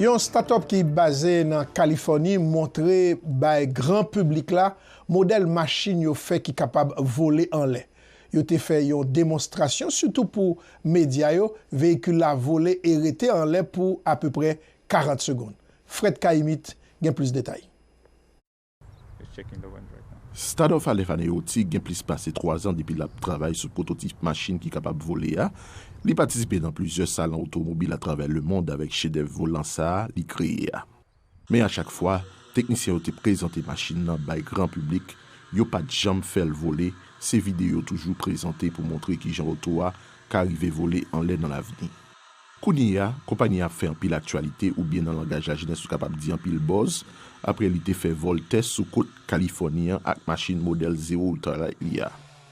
Yon start-up ki baze nan Kalifòni montre bay gran piblik la modèl machin yo fè ki kapab vole anlè. Yo te fè yon demonstrasyon sitou pou medya yo, veyikil la vole e rete anlè pou apeprè 40 segonn. Fred Kaimit gen plis detay. Stade of Aleph Aneyotik gen plis pase 3 zan depi l ap travay sou pwototip machin ki kapab vole a. Li patisipe nan plizyè salon otomobil atravè lemond avèk chedèv volan sa a li kreye a. Men a chak fwa, teknisyen yo te prezante machin nan bay gran piblik, yo pa t janm fè l vole, se vide yo toujou prezante pou montre kijan oto a ka rive vole anlè nan lavni. Kounye a, konpayi a ap fè anpil aktyalite oubyen nan langaj lajenès ou kapab di anpil buzz apre li te fè vòl tès sou kot Kalifòni an ak machin modèl zewo Ultralight li a.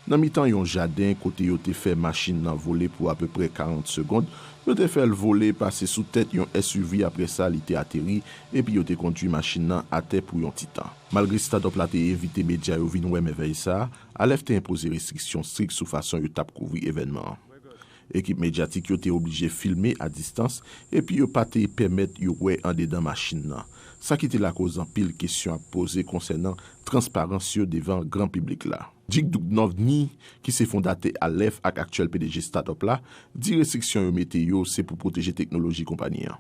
Nan mitan yon jaden kote yo te fè machin nan vole pou apeprè 40 segond, yo te fè l vole pase sou tèt yon SUV apre sa li te ateri epi yo te kondui machin nan atè pou yon ti tan. Malgre start-up la te envite medya yo vin wè mèvèy sa, Aleph te enpoze restriksyon strik sou fason yo t ap kouvri evènman an. Ekip medyatik yo te oblije filme a distans epi yo pa te pèmèt yo wè andedan machin nan, sa ki te lakoz anpil kesyon ap poze konsènan transparans yo devan gran piblik la. Dick Duchovny, ki se fondatè Aleph ak aktyèl pdg Startup la, di restriksyon yo mete yo se pou pwoteje teknoloji konpani an.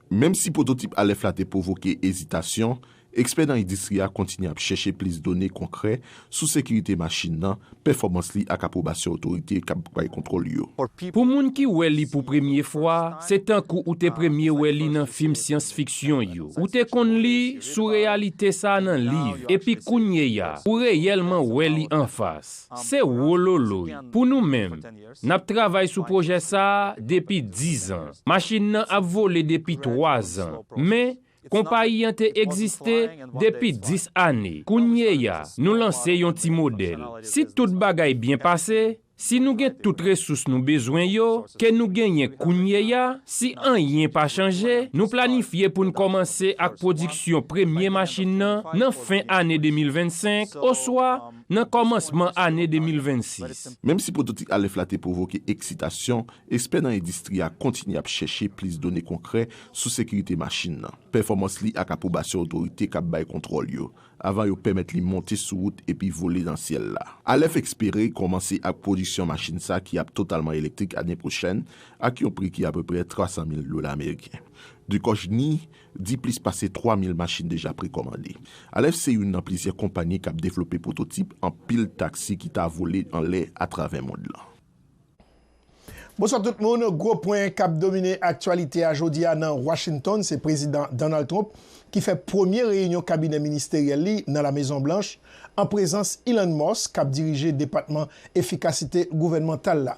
Menm si pwototip alèf la te pwovoke ezitasyon, ekspè nan endistri a kontinye ap chèche plis done konkrè sou sekirite machin nan, pèfòmans li ak apwobasyon otorite k ap bay kontwòl yo. Pou moun ki wè li pou premye fwa, se tankou ou te premye wè li nan fim syans fiksyon yo. Ou te konn li sou reyalite sa nan liv, epi kounyeya, ou reyèlman wè li anfas. Se wololoy! Pou nou menm, N ap travay sou pwojè sa a depi dizan. Machin nan ap vole depi twazan. Men, konpayi an te egziste depi dis ane. Kounyeya, nou lanse yon ti modèl. Si tout bagay byen pase, si nou gen tout resous nou bezwen yo, ke nou genyen kounyeya, si anyen pa chanje, nou planifye pou n kòmanse ak pwodiksyon premye machin nan nan fen ane 2025 oswa nan kòmansman ane 2026. Menm si pwototik Aleph la te pwovoke eksitasyon, ekspè nan endistri a kontinye ap chèche plis done konkrè sou sekirite machin nan, pèfòmans li ak apwobasyon otorite k ap bay kontwòl yo, avan yo pèmèt li monte sou wout epi vole nan syèl la. Aleph espere kòmanse ak pwodiksyon machin sa ki ap totalman elektrik ane pwochèn ak yon pri ki apeprè 300 mil dola ameriken. Ducojny di plis pase 3 mil machin deja prekòmande. Alèf se youn nan plizyè konpayi k ap devlope pwototip anpil taksi ki ta vole anlè atravè mond lan. Bonswa tout moun, gwo pwen kap domine aktyalite a jodi a nan Washington se Prezidan Donald Trump ki fè premye reyinyon kabinè ministeryèl li nan La Mezon Blanch an prezans Elon Musk kap dirije depatman efikasite gouvènmantal la.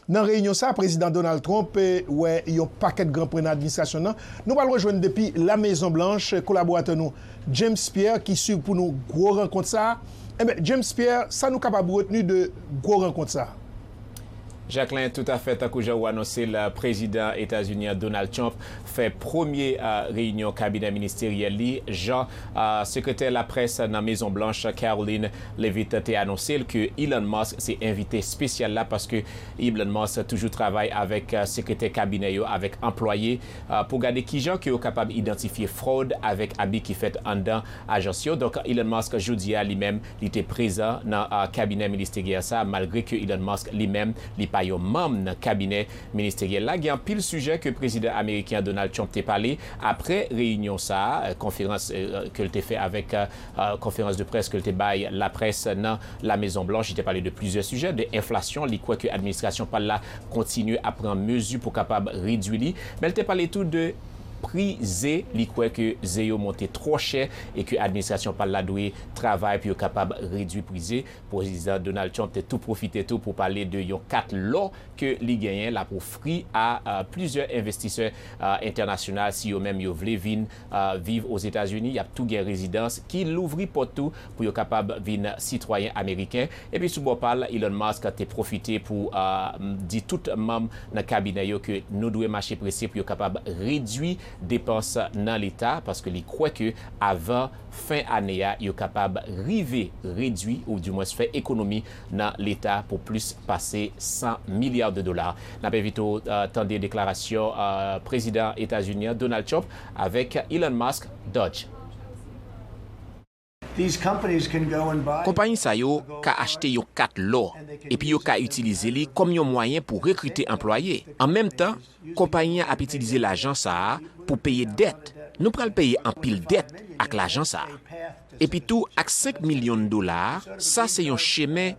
Nan reyinyon sa a Prezidan Donald Trump wè yon pakèt gran pwen nan administrasyon n nan. Nou pral rejwenn depi La Mezon Blanch kolaboratè nou James Pierre ki swiv pou nou gwo rankont sa a. Enben James Pierre, sa nou kapab retni de gwo rankont sa a? Jacquelin, toutafè, tankou jan ou anonse l, Prezidan Etazini an Donald Trump fè premye reyinyon kabinè ministeryèl li jan Sekretè laprès nan Mezon Blanch Karoline Levitt te anonse l ke Elon Musk se envite espesyal la paske Elon Musk toujou travay avèk sekretè kabinè yo avèk anplwaye pou gade kijan ke yo kapab idantifye frod avèk abi ki fèt anndan ajans yo. Donk Elon Musk jodi a li menm li te prezan nan kabinè ministeryèl sa a malgre ke Elon Musk li menm li pa yon manm nan kabinè ministeryèl la. Gen anpil sijè ke prezidan ameriken an Donald Trump te pale apre reyinyon sa a, konferans ke l te fè avèk Konferans de près ke l te bay laprès nan La Mezon Blanch, li te pale de plizyè sijè, de enflasyon, li kwè ke administrasyon pa l la kontinye ap pran mezi pou kapab redui li, men l te pale tou de pri ze, li kwè ke ze yo monte twò chè e ke administrasyon pa l la dwe travay pou yo kapab redui pri ze. Pwezidan Donald Trump te tou pwofite tou pou pale de yon kat lò ke li genyen l ap ofri a plizyè envestisè entènasyonal si yo menm yo vle vin viv Ozetazini, y ap tou gen rezidans ki louvri pòt tou pou yo kapab vin sitwayen ameriken. Epi sou bò pa l, Elon Musk te pwofite pou di tout manm nan kabinè yo ke nou dwe mache prese pou yo kapab redui depans nan leta, paske li kwè ke avan fen ane a yo kapab rive redui ou di mwens fè ekonomi nan leta pou plis pase 100 milya de dola. N ap envite w tande deklarasyon Prezidan Etazini an Donald Trump avèk Elon Musk, Dodge. Konpayi sa yo ka achte yon kat lò epi yo ka itilize li kòm yon mwayen pou rekrite anplwaye. An menm tan, Konpayi an ap itilize lajan sa a pou peye dèt, nou pral peye anpil dèt ak lajan sa a. Epitou ak 5 milyon dola a, sa se yon chemen,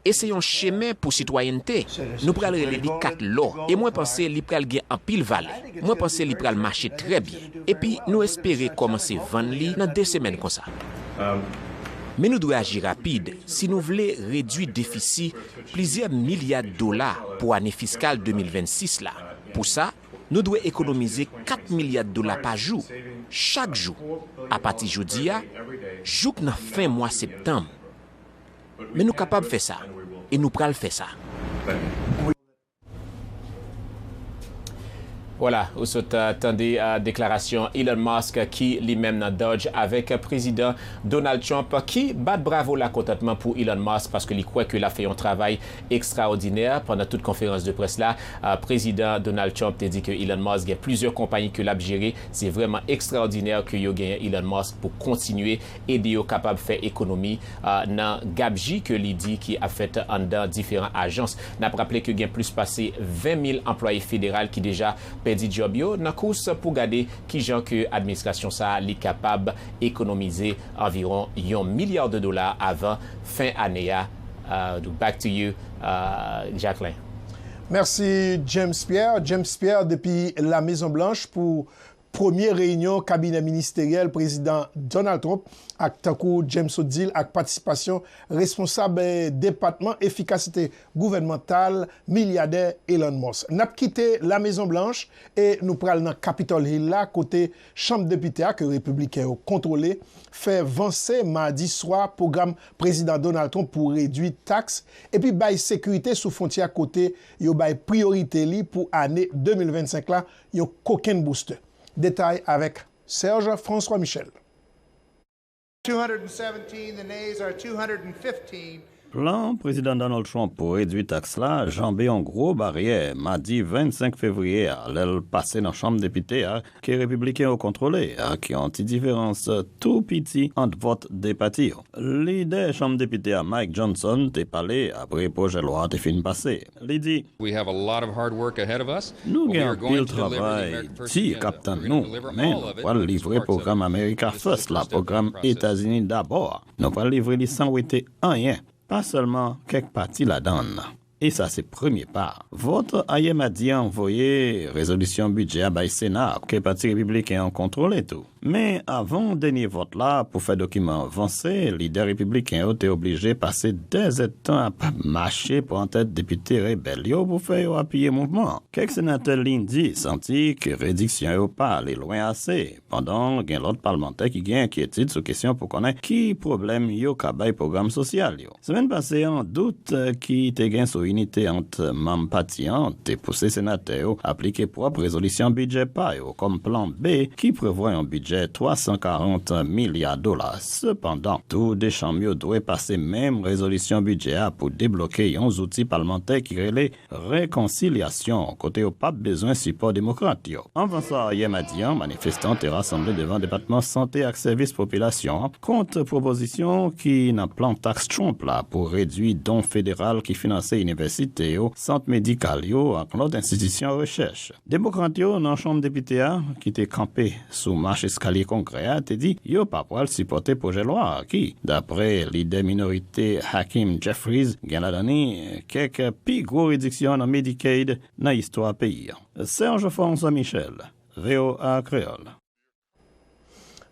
e se yon chemen pou sitwayènte, nou pral rele li kat lò, e mwen panse li pral gen anpil valè, mwen panse li pral mache trè byen, epi nou espere kòmanse vann li nan 2 semèn konsa. Men nou dwe aji rapid si nou vle redui defisi plizyè milya dola pou ane fiskal 2026 la. Pou sa, nou dwe ekonomize 4 milya dola pa jou, chak jou, apati jodi a, jouk nan fen mwa septanm. Men nou kapab fè sa, e nou pral fè sa. Voila, ou sot tande deklarasyon Elon Musk ki li menm nan dodj avèk Prezidan Donald Trump ki bat bravo lakontantman pou Elon Musk paske li kwè ke lap fè yon travay ekstraòdinè. Pandan tout konferans de près la, Prezidan Donald Trump te di ke Elon Musk gen plizyè konpayi ke lap jere. Se vrèman ekstraòdinè ke yo genyen Elon Musk pou kontinye ede yo kapab fè ekonomi nan gabji ke li di ki ap fèt anndan diferan ajans. N ap raple ke gen plis pase 20 mil anplwaye federal ki deja pèdi djòb yo nan kous pou gade kijan ke administrasyon sa a li kapab ekonomize anviwon yon milya de dola avan fen ane a. Back to you Jacquelin. Mèsi James Pierre. James Pierre depi La Mezon Blanch pou Premye reyinyon kabinè ministeryèl Prezidan Donald Trump ak tankou James sot di l ak patisipasyon responsab depatman efikasite gouvènmantal milyadè Elon Musk. Nap kite La Mezon Blanch e nou pral nan Capitol Hill la kote chanm depite a ke repibliken yo kontwole fè vanse madi swa pwogram Prezidan Donald Trump pou redwi taks epi bay sekirite sou fwontyè kote yo bay priyorite li pou ane 2025 la yon kokenn boustè. Detay avèk Serge François Michel. Plan Prezidan Donald Trump pou redwi taks la janbe yon gwo baryè madi 25 fevriye a lè l pase nan Chanm Depite a ke Repibliken yo kontwole ak yon ti diferans tou piti ant vòt 2 pati yo. Lidè Chanm Depite a Mike Johnson te pale apre pwojè lwa a te fin pase. Li di. Nou gen anpil travay di k ap tann nou, men nou pral livre pwogram America First la, Pwogram Etazini Dabò a, nou pral livre li san wete anyen, pa sèlman kèk pati ladan l, e sa se premye pa. Vòt ayè madi an voye rezolisyon bidjè a bay Sena a, ke Pati Repibliken an kontwole tou. Men, avan dènye vòt la pou fè dokiman an vanse, lidè repibliken yo te oblije pase dè zèdtan ap mache pran tèt depite rebèl yo pou fè yo apiye mouvman an. Kèk senatè Lendi santi ke rediksyon yo pa ale lwen ase, pandan gen lòt palmantè ki gen enkyetid sou kesyon pou konnen ki pwoblèm yo ka bay pwogram sosyal yo. Semèn pase an, dout ki te gen sou inite ant manm pati an te pouse senatè yo aplike pwòp rezolisyon bidjè pa yo kòm plan B ki prevwa yon bidjè 340 milya dola. Sepandan, tou de chanm yo dwe pase menm rezolisyon bidjè a pou debloke yon zouti palmantè ki rele, rekonsilyasyon kote yo pap bezwen sipò Demokrat yo. Anvan sa, yè madi an, manifestan te rasanble devan Depatman Sante ak Sèvis Popilasyon an kont pwopozisyon ki nan plan taks Trump la pou redui don federal ki finanse inivèsite yo, sant medikal yo ak lòt enstitisyon rechèch. Demokrat yo nan Chanm Depite a, ki te kanpe sou mach eskalye Kongrè a, te di yo pa pral sipòte pwojè lwa a ki, dapre lidè minorite Hakeem Jeffries, gen ladan li kèk pi gwo rediksyon nan Medicaid nan istwa peyi a. Serge François Michel, voa Kreyòl.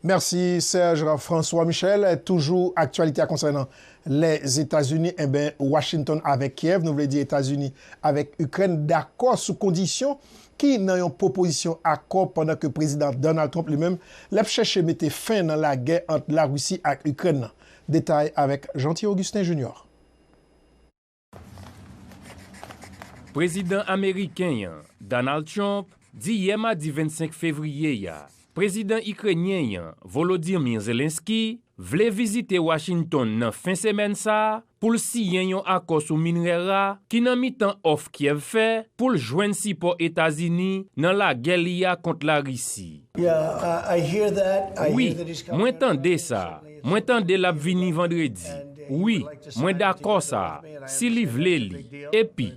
Merci Serge François Michel, toujou aktyalite a konsènan Lèzetazini enben Washington avèk Kyèv nou vle di Etazini avèk Ikrèn dakò sou kondisyon ki nan yon pwopozisyon akò pandan ke Prezidan Donald Trump li menm l ap chèche mete fen nan lagè ant Larisi ak Ikrèn nan. Detay avèk Jeanty Augustin Junior. Prezidan ameriken an, Donald Trump, di yè madi 25 fevriye a, prezidan ikrenyen an, Volodymyr Zelensky, vle vizite Washington nan fen semèn sa a pou l siyen yon akò sou minrè ra ki nan mitan òf Kyèv fè pou l jwenn sipò Etazini nan lagè li a kont Larisi. Wi, mwen tande sa. Mwen tande l'ap vini vandredi. Wi, mwen dakò sa, si li vle li. Epi,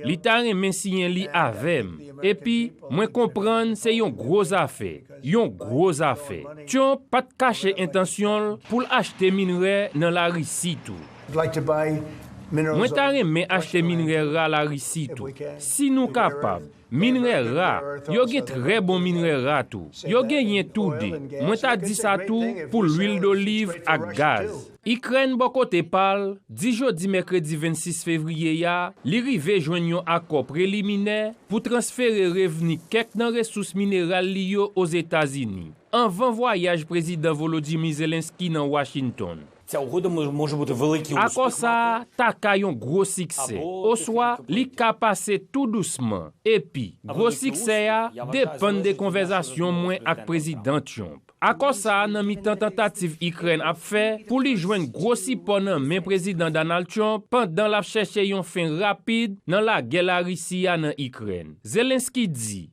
li ta renmen siyen li avè m. Epi, mwen konprann se yon gwo zafè, yon gwo zafè. Tyonp pa t kache entansyon l pou l achte minrè nan Larisi tou. Mwen ta renmen achte minrè ra Larisi tou, si nou kapab. Minrè ra, yo gen trè bon minrè ra tou. Yo genyen tou de. Mwen ta di sa tou pou lwil doliv ak gaz. Ikrèn bò kote pa l, di jodi mèkredi 26 fevriye a li rive jwenn yon akò preliminè pou transfere revni kèk nan resous mineral li yo Ozetazini, anvan vwayaj Prezidan Volodymyr Zelenskyy nan Washington. Akò sa a ta ka yon gwo siksè, oswa li ka pase tou dousman, epi gwo siksè a depann de konvèzasyon mwen ak Prezidan Trump. Akò sa a nan mitan tantativ Ikrèn ap fè pou li jwenn gwo sipò nan men Prezidan Donald Trump pandan l ap chèche yon fen rapid nan lagè Larisi a nan Ikrèn, Zelensky di.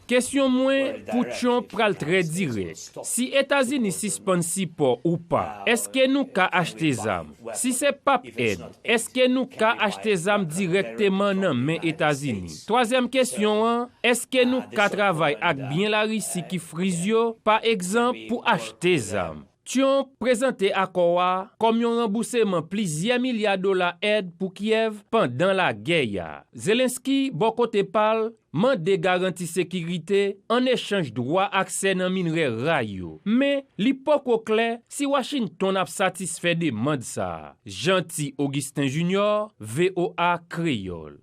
Kesyon mwen pou Trump pral trè dirèk. Si Etazini sispann sipò ou pa, èske nou ka achte zam? Si se pap èd, èske nou ka achte zam dirèkteman nan men Etazini? Twazyèm kesyon an, èske nou ka travay ak byen Larisi ki friz yo, pa egzanp, pou achte zam? Trump prezante akò a kòm yon ranbouseman plizyè milya dola èd pou Kyèv pandan lagè a. Zelensky, bò kote pa l, mande garanti sekirite an echanj dwa aksè nan minrè ra yo, men li poko klè si Washington ap satisfè demand sa a. Jeanty Augustin Junior, voa Kreyol.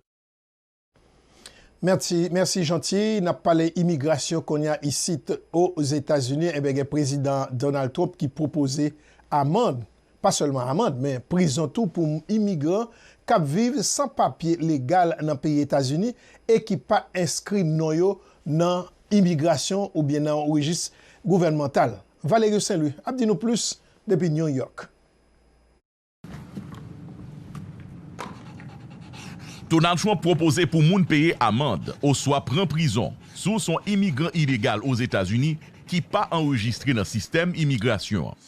Mèsi mèsi Jeanty, nap pale imigrasyon konnya isit Ozetazini enben gen Prezidan Donald Trump ki pwopoze amand pa sèlman amand men prizon tou pou imigran kap viv san papye legal nan peyi Etazini e ki pa enskri non yo nan imigrasyon oubyen nan yon rejis gouvènmantal. Valerio Sainlouis ap di nou plis depi New York. Donald Trump pwopoze pou moun peye amand oswa pran prizon. Si w se yon imigran ilegal Ozetazini ki pa anrejistre nan sistèm imigrasyon an,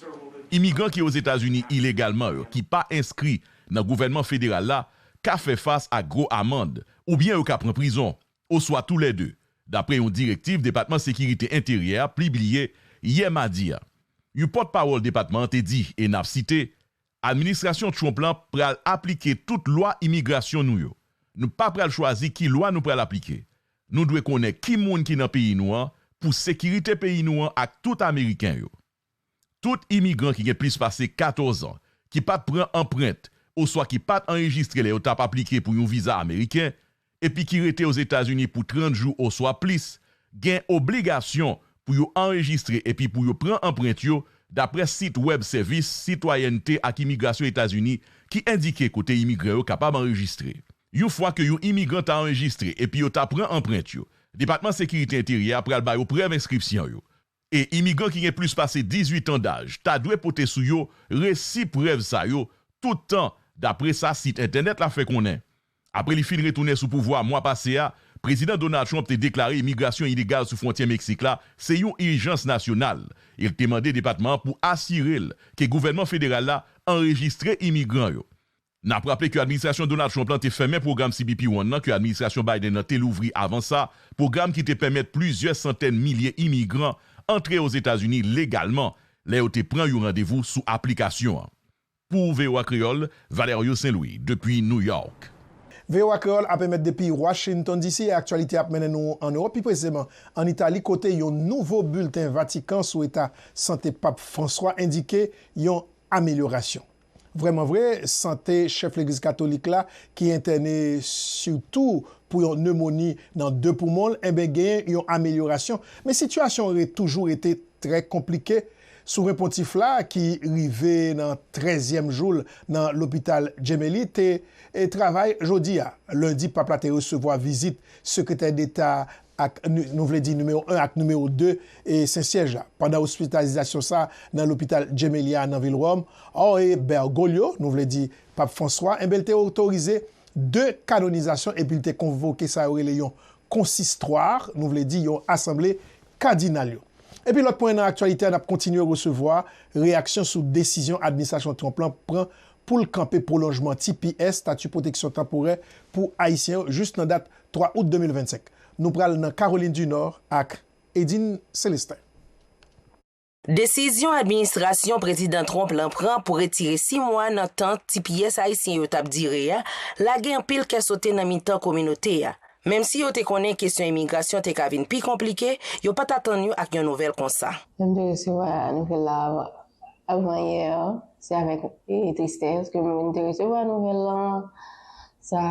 imigran ki Ozetazini ilegalman yo ki pa enskri nan gouvènman federal la ka fè fas ak gwo amand oubyen yo ka pran prizon, oswa tou lè de, dapre yon direktiv Depatman Sekirite Enteryè a pibliye yè madi a. Yon pòtpawòl depatman an te di, e n ap site, Administrasyon Trump lan pral aplike tout lwa imigrasyon nou yo. Nou pa pral chwazi ki lwa nou pral aplike. Nou dwe konnen ki moun ki nan peyi nou an pou sekirite peyi nou an ak tout Ameriken yo. Tout imigran ki gen plis pase 14 an, ki pa t pran anprent oswa ki pa t anrejistre lè yo t ap aplike pou yon viza Ameriken, epi ki rete Ozetazini pou 30 jou oswa plis, gen obligasyon pou yo anrejistre epi pou yo pran anprent yo dapre sit wèb Sèvis Sitwayènte ak Imigrasyon Etazini ki endike kote imigran yo kapab anrejistre. Yon fwa ke yon imigran ta anrejistre epi yo ta pran anprent yo, Depatman Sekirite Enteryè a pral ba yo prèv enskripsyon yo, e imigran ki gen plis pase 18 an daj ta dwe pote sou yo resi prèv sa yo tout tan, dapre sa sit entènèt la fè konnen. Apre li fin retounen sou pouvwa mwa pase a, Prezidan Donald Trump te deklare imigrasyon ilegal sou fwontyè Meksik la se yon ijans nasyonal e l te mande depatman an pou asire l ke gouvènman federal la anrejistre imigran yo N ap raple ke administrasyon Donald Trump la te fèmen pwogram CBP One nan ke administrasyon Biden nan te louvri avan sa, pwogram ki te pèmèt plizyè santèn milye imigran antre Ozetazini legalman lè yo te pran yon randevou sou aplikasyon an. Pou voa Kreyòl, Valerio Saint-Louis depi New York. Voa Kreyòl ap emèt depi Washington, DC. e aktyalite ap mennen nou an Ewòp, pi preseman an Itali kote yon nouvo bilten Vatikan sou eta sante Pap Franswa endike yon amelyorasyon. Vrèman vre, sante chèf legliz katolik la ki entène sitou pou yon nemoni nan 2 poumon l enben genyen yon amelyorasyon, men sitiyasyon an toujou rete trè konplike. Souvren Pontif la ki rive nan trèzyèm jou l nan lopital Gemelli te travay jodi a. Lendi, Pap la te resevwa vizit Sekretè Deta ak nou vle di nimewo 1 ak nimewo 2 e Sen Syèj la pandan ospitalizasyon sa a nan lopital Gemelli a nan vil Wòm, ò e Bergoglio, nou vle di Pap Franswa, enben l te otorize 2 kanonizasyon epi l te konvoke sa yo rele yon konsistwar, nou vle di yon asanble kadinal yo. Epi lòt pwen nan aktyalite a n ap kontinye resevwa reyaksyon sou desizyon administrasyon Trump lan pran pou l kanpe pwolonjman, tps, Stati Pwoteksyon Tanporè pou Ayisyen yo jis nan dat 3 out 2025, nou pral nan Caroline du Nord ak Edine Celestin. Desizyon administrasyon Prezidan Trump lan pran pou retire 6 mwa nan tan ti pyès ayisyen yo t ap dire a lage anpil kè sote nan mitan kominote a. Menm si yo te konnen kesyon imigrasyon te ka vin pi konplike, yo pa t atann yo ak yon nouvèl konsa. Lè m te resevwa nouvèl la avan yè, se avèk tristès ke m te resevwa nouvèl lan. Sa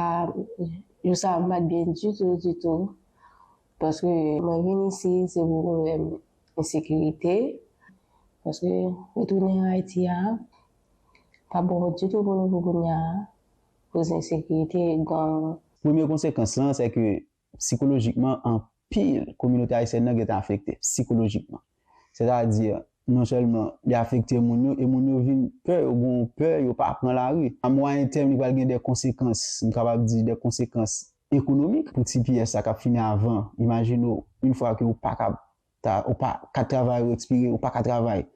Jou sa a m pat byen ditou ditou paske mwen vin isi se pou pwoblèm ensekirite paske retounen Ayiti a pa bon ditou pou nou pou kounya a koz ensekirite, gang. Premye konsekans lan sèke sikolojikman pil kominote ayisyèn nan gentan afekte sikolojikman. Sètadi, non sèlman li afekte moun yo, e moun yo vin pè, yo gon pè, yo pa pran lari. A mwayen tèm li pral gen de konsekans, m kapab di de konsekans ekonomik pou ti pyès sa k ap fini avan. Imajine w, in fwa ke ou pa kab ta, ou pa ka travay ou ekspire, ou pa ka travay.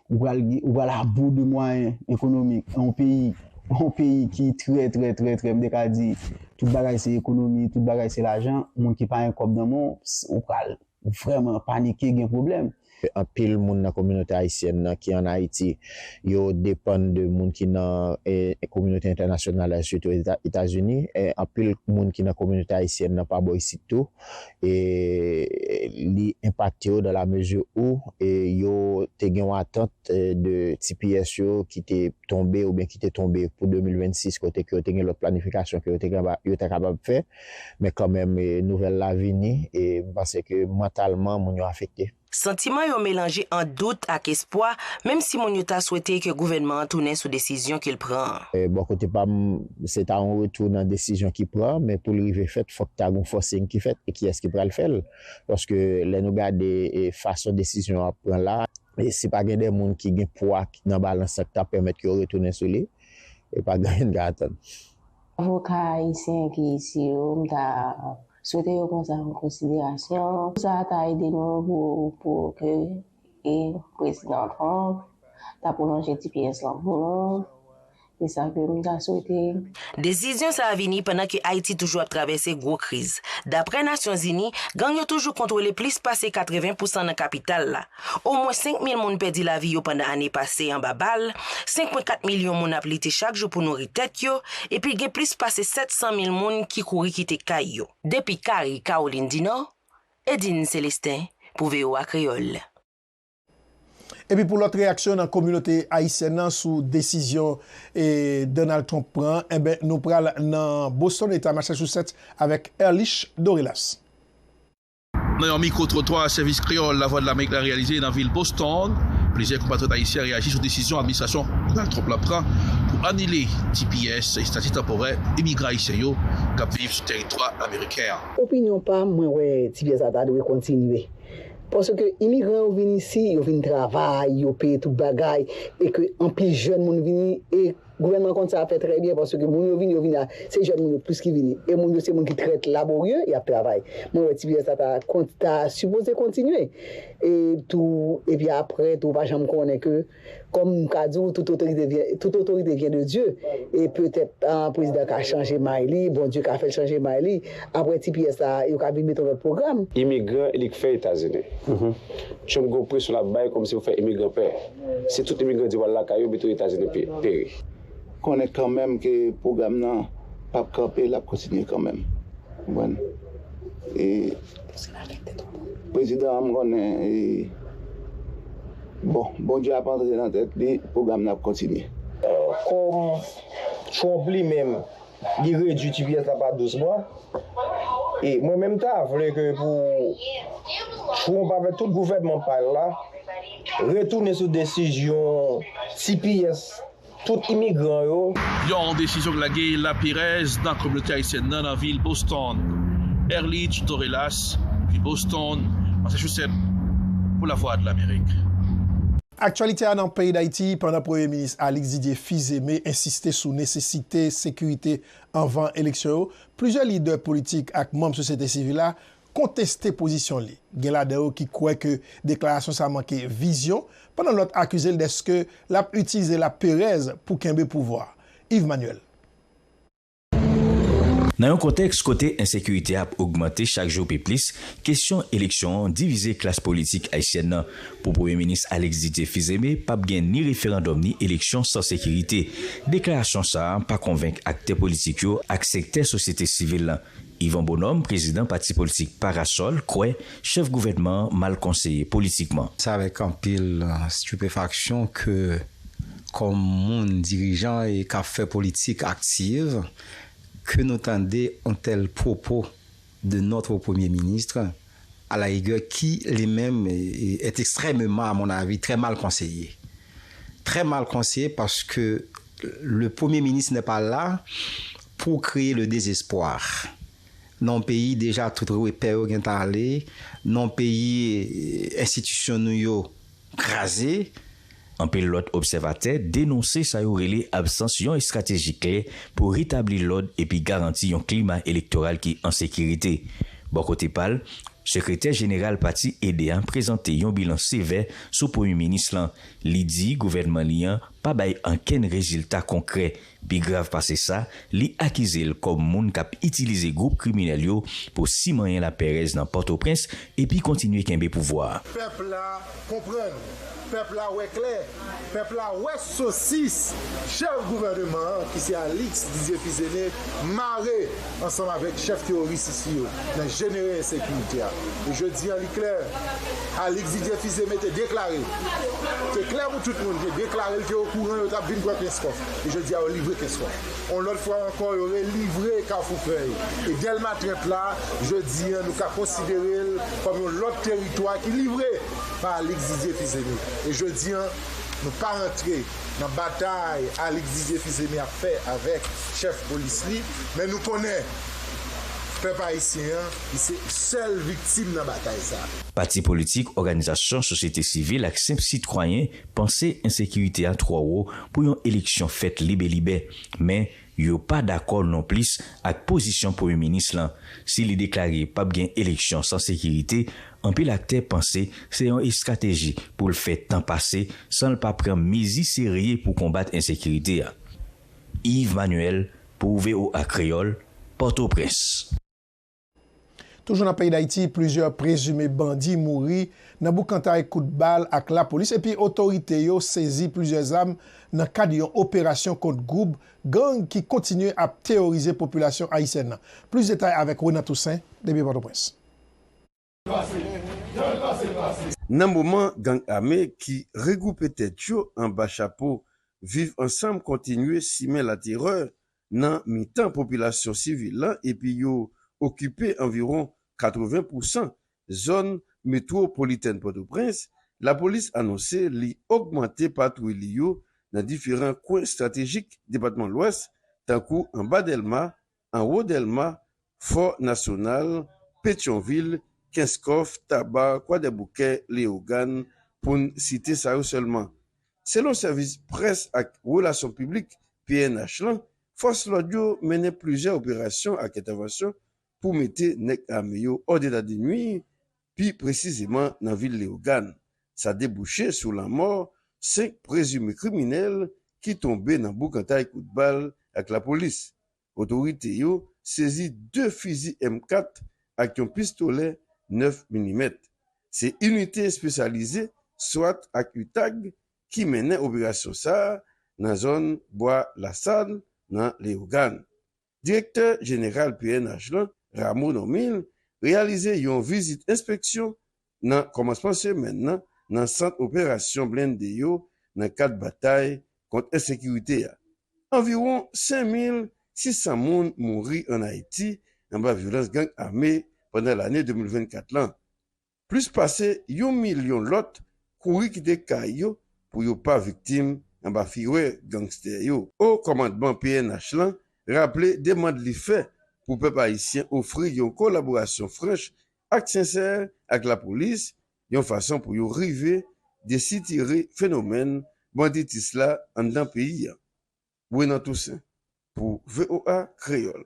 ou pral gen, ou pral abou de mwayen ekonomik yon peyi, yon peyi ki trè trè trè trè m te ka di tout bagay se ekonomi, tout bagay se lajan, moun ki pa gen kòb nan men w, ou pral vrèman panike gen pwoblèm. Anpil moun nan kominote ayisyèn nan ki an Ayiti, yo depann de moun ki nan kominote entènasyonal la sitou Etazini, anpil moun ki nan kominote ayisyèn nan pa bò isit tou, e li enpakte yo dan la mezi ou yo te gen yon atant de tps yo ki te tonbe oubyen ki te tonbe pou 2026 kote ke yo te gen lòt planifikasyon ke yo ta kapab fè men kanmenm nouvèl la vini e m panse ke mantalman moun yo afekte. Santiman yo melanje ant dout ak espwa, menm si moun yo ta swete ke gouvènman an tounen sou desizyon ke l pran an. Bò kote pa m, se ta yon retou nan desizyon ki pran, men pou l rive fèt, fòk ta gen yon fòsing ki fèt, e kiyès ki pral fè l? Paske lè nou gade fason desizyon an ap pran la, si pa gen de moun ki gen pwa nan balans lan ki ta pèmèt ke yo retounen sou li, e pa gen anyen n ka atann. Avoka ayisyen ki isi yo, m ta. Swete yo pran sa an konsiderasyon. Sa a ta ede nou pou ke Prezidan Trump ta pwolonje tps lan pou nou. Se sa ke m ta swete. Desizyon sa a vini pandan ke Ayiti toujou ap travèse gwo kriz. Daprè Nasyonzini, gang yo toujou kontwole plis pase 80 pousan nan kapital la. Omwen 5 mil moun pèdi lavi yo pandan ane pase anba bal, 5.4 milyon moun ap lite chak jou pou nouri tèt yo, epi gen plis pase 700 mil moun ki kouri kite kay yo. Depi Cary, Kawolin di Nò, Edine Celestin pou voa Kreyòl. Epi pou lòt reyaksyon nan kominote ayisyèn nan sou desizyon Donald Trump pran an, enben nou pral nan Boston, eta Massachusetts avèk Erlich Dorelas. Nan yon mikwo-twotwa Sèvis Kreyòl Lavwadlamerik la reyalize nan vil Boston, plizyè konpatriyòt ayisyen reyaji sou desizyon administrasyon Donald Trump la pran pou anile tps, Estati Tanporè, imigran ayisyen yo k ap viv sou tèritwa ameriken an. Opinyon pa m, mwen wè tps la ta dwe kontinye. Paske imigran yo vin isi, yo vin travay, yo peye tout bagay, e ke anpil jèn moun vini, e. Gouvènman konn sa fè trè byen paske moun yo vini yo vini a se jèn moun yo plis ki vini e moun yo se moun ki trè laborye y ap travay mwen wè ti pyès la ta kont ta sipoze kontinye e tou epi aprè tou ou pa janm konnen ke kòm m ka di w tout otorite vyen tout otorite vyen de Dye e petèt prezidan ka chanje may li Bondye ka fè l chanje may li. Apre tps la, yo ka vin met yon lòt pwogram. Imigran li k fè etazini. Trump gen yon presyon lap bay kòmsi pou fè imigran pè. Si tout imigran di wal lakay yo mete yo etazini peri. Konnen kanmenm ke pwogram nan pap kanpe lap kontinye kanmenm konprann e prezidan an m konnen e bon Bondye ap antre nan tèt li pwogram nan ap kontinye. Kòm Trump li menm Li redwi tps la pa 12 mwa. E mwen menm ta vle ke pou Trump avèk tout gouvènman pa l la retounen sou desizyon tps tout imigran yo. Yon desizyon k lage lapèrèz nan kominote ayisyèn nan nan vil Boston. Erlitch Dorellas, Boston, Massachusetts, pou Lavwadlamerik. Aktyalite a nan peyi Dayiti, pandan Premye Minis Alix Didier Fils-Aimé ensiste sou nesesite sekirite anvan eleksyon yo, plizyè lidè politik ak manm sosyete sivil la konteste pozisyon li. Gen ladan yo ki kwè ke deklarasyon sa manke vizyon, pandan lòt akize l dèske l ap itilize laperèz pou kenbe pouvwa. Yves Manuel. Nan yon kontèks kote ensekirite a ap ogmante chak jou pi plis, kesyon eleksyon an divize klas politik ayisyèn nan. Pou Premye Minis Alex Didier Fils-Aimé p ap gen ni referandòm ni eleksyon san sekirite. Deklarasyon sa a pa konvenk aktè politik yo ak sektè sosyete sivil lan. Yvon Bonhomme, prezidan pati politik Parasol, kwè chèf gouvènman an mal konseye politikman. Se avèk anpil stipefaksyon ke kòm moun dirijan e kap fè politik aktiv ke nou tande on tèl pwopo de notre premye minisr a la rigè ki li menm est extrèmeman a mon avi trè mal konseye. Trè mal konseye paske le premye minisr nè pa la pou kreye le dezespwa nan on peyi deja tout repè yo gentan ale nan on peyi enstitisyon nou yo kraze. Anpil lòt obsèvatè denonse sa yo rele absans yon estrateji klè pou retabli lòd epi garanti yon klima elektoral ki an sekirite. Bò kote pa l, sekretè jeneral pati ede a prezante yon bilan sevè sou premye minis lan, li di gouvènman li an pa bay ankenn rezilta konkrè. Pi grav pase sa, li akize l kòm moun k ap itilize gwoup kriminèl yo pou simanyen lapèrèz nan Pòtoprens epi kontinye kenbe pouvwa a. Pèp la konprann, pèp la wè klè, pèp la wè sosis chèf gouvèneman an ki se Alix Didier Fils-Aimé mare ansanm avèk chèf teworis isi yo nan jenere ensekirite a. E jodi an li klè, Alix Didier Fils-Aimé te deklare, te klè pou tout moun, te deklare l te okouran yo t ap vin pran Kenskòf. e jodi a yo livre Kenswa. On lòt fwa ankò yo relivre Kafou Fèy. E Dèlma 30 la, jodi a nou ka konsidere l kòm yon lòt teritwa ki livre pa Alix Didier Fils-Aimé. E jodi a nou pa rantre nan batay Alix Didier Fils-Aimé ap fè avèk chèf polis li, men nou konnen pèp ayisyen an li se sèl viktim nan batay sa. Pati politik, òganizasyon sosyete sivil ak senp sitwayen panse ensekirite a twò wo pou yon eleksyon fèt lib e libè, men yo pa dakò non plis ak pozisyon premye minis lan. Si li deklare pap gen eleksyon san sekirite, anpil aktè panse se yon estrateji pou l fè tan pase san l pa pran mezi serye pou konbat ensekirite a. Yves Manuel pou voa Kreyòl, Pòtoprens. Toujou nan peyi Dayiti, plizyè prezime bandi mouri nan boukantay kout bal ak lapolis epi otorite yo sezi plizyè zam nan kad yon operasyon kont gwoup gang ki kontinye ap teworize popilasyon ayisyèn nan. Plis detay avèk Renan Toussaint depi Pòtoprens. Nan moman gang ame ki regwoupe tèt yo anba chapo Viv ansanm kontinye simen laterè nan mitan popilasyon sivil la epi yo okipe anviwon 80 pousan zòn metwopolitèn Pòtoprens, lapolis anonse li ogmante patwouy li yo nan diferan kwen estratejik depatman Lwès tankou anba Dèlma, anwo Dèlma, Fò Nasyonal, Petyonvil, Kenskòf, Taba, Kwadèboukè, Leyogàn, pou n site sa yo sèlman. Selon Sèvis Près ak Relasyon Piblik pnh lan, fòs lòd yo mennen plizyè operasyon ak entèvansyon pou mete nèg ame yo òdedadinwi pi presizeman nan vil Leyogàn. Sa debouche sou lanmò 5 prezime kriminèl ki tonbe nan boukantay kout bal ak lapolis. Otorite yo sezi 2 fizi M 4 ak yon pistolè 9 milimèt. Se inite espesyalize swat ak utag ki mennen operasyon sa a nan zòn Bwa Lasal nan Leyogàn. Direktè Jeneral pnh lan, Rameau Normil, reyalize yon vizit enspeksyon nan kòmansman semèn nan nan sant operasyon blende yo nan kad batay kont ensekirite a. Anviwon 5600 moun mouri an Ayiti anba vyolans gang ame pandan lane 2024 lan. Plis pase yon milyon lòt kouri kite kay yo pou yo pa viktim anba firè gangstè yo. Wo kòmandman pnh lan raple demand li fè pou pèp ayisyen ofri yon kolaborasyon franch ak sensè ak lapolis yon fason pou yo rive desitire fenomèn banditis la anndan peyi a. Renan Toussaint pou voa Kreyòl.